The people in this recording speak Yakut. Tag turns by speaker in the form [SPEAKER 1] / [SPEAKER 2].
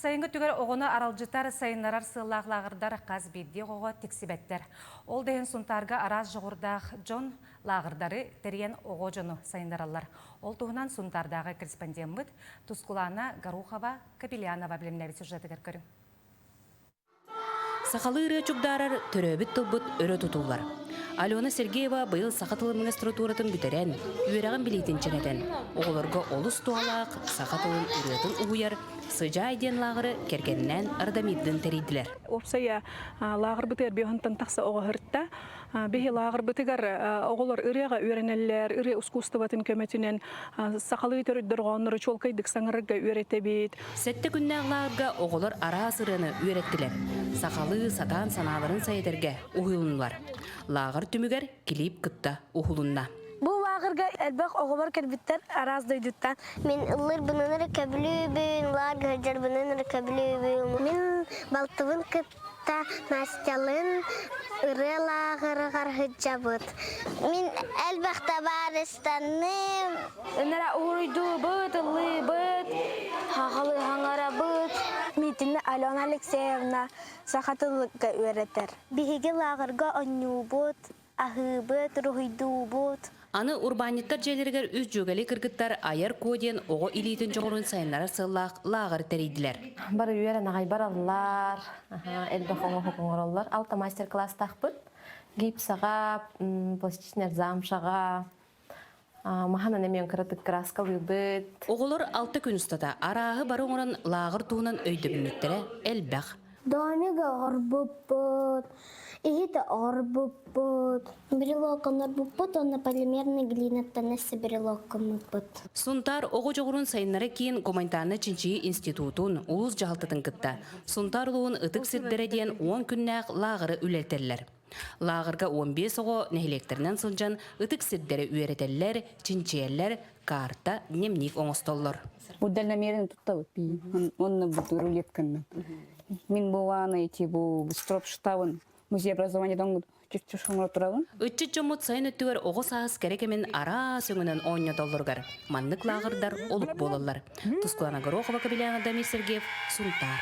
[SPEAKER 1] Сайыҥҥы түгэр оҕону аралдьытар, сайыннарар сыаллаах лааҕырдар хас биирдии оҕоҕо тиксибэттэр. Ол да иһин Сунтаарга араас дьоҕурдаах дьон лааҕырдары тэрийэн оҕо дьону сайыннараллар. Ол туһунан Сунтаардааҕы корреспондеммыт Тускулаана Горохова, Капелянова билимнээбит сюжетыгар көрүҥ.
[SPEAKER 2] Сахалыы ырыа чугдаарар төрөөбүт тылбыт өрө тутуллар. Алена Сергеева быйыл саха тылын магистратуратын бүтэрэн, үөрэҕин билиитин чэнэтэн, оҕолорго олус туһалаах саха тылын ырыатын угуйар «Сыдьаай» диэн лааҕыры кэргэннээн Радамирдыын тэрийдилэр. Уопсайа
[SPEAKER 3] лааҕыр бытыарбыйа оһонтон тахса оҕо ыһырта. Биһи лааҕырбытыгар оҕолор ырыаҕа үөрэнэллэр, ырыа ускуустубатын көмөтүнэн сахалыы төрүтдөрҕөөннөрү чуолкайдык саҥарарга үөрэтэбит. Сэттэ күннээх
[SPEAKER 2] лааҕырга оҕолор араас ырыаны үөрэттилэр, сахалыы сатаан санааларын сайэтэргэ уһуйулуннулар. Лааҕыр түмүгэр клип кытта уһулунна. Бу лааҕырга
[SPEAKER 4] элбэх оҕолор кэлбиттэр араас дойдуттан. Мин ыллыырбынан эрэ көбүлүүбүн, лааҕырдьарбынан эрэ көбүлүүбүн. Мин балтыбын кытта Настялыын ырыа лааҕырыгар сылдьабыт. Мин элбэхтэ баарыстанным. Өнөрө уруйдуубут, ыллыыбыт, хахалыһаҥарабыт. Миитинэ Алена Алексеевна саха тылга үөрэтэр. Биһиги лааҕырга оонньуубут. Аһыыбыт, уруһуйдуубут. Аны урбаанньыттар
[SPEAKER 2] дьиэлэригэр үс дьүөгэли кыргыттар айар куо диэн оҕо илиитин дьоҕурун сайыннарар сыаллаах лааҕыр тэрийдилэр. Бары үөрэн аҕай
[SPEAKER 5] бараллар, элбэх оҥоһук оҥороллор. Алта мастер-класстаахпыт. Гипсаҕа, пластичнай замшаҕа, Маһанан эмиэн кыратык краскалыыбыт. Оҕолор алта күн
[SPEAKER 2] устата арааһы бары оҥорон лааҕыр туһунан өйдөбүнньүктэрэ элбэх. Домиго
[SPEAKER 4] оҥорбуппут, иһитэ оҥорбуппут. Брелокаларбыппыт уонна полимерный глинаттан өссө брелоккаммыппыт. Сунтаар оҕо
[SPEAKER 2] дьоҕурун сайыннара киин гуманитарнай чинчийии институтун улуус дьаһалтатын кытта Сунтаар улууһун ытык сирдэрэ диэн уон күннээх лааҕыры үлэлэтэллэр. Лааҕырга уон биэс оҕо нэһилиэктэринэн сылдьан ытык сирдэри үөрэтэллэр, чинчийэллэр, карта, дневник оҥостоллор. Бу дальномерный
[SPEAKER 6] туттабыт пии. Онно бут рулетканна. Мин бувааны ити бу строп штабын музей образования донгут чүччүш хоңоро турабын. Ытчыт дьоммут сайын
[SPEAKER 2] өттүгэр оҕо саас кэрэ кэмин араас өҥүнэн оонньотоллоругар маннык лааҕырдар олук буолаллар. Тускулана Горохова Кабелянов Дамир Сергеев Сунтаар.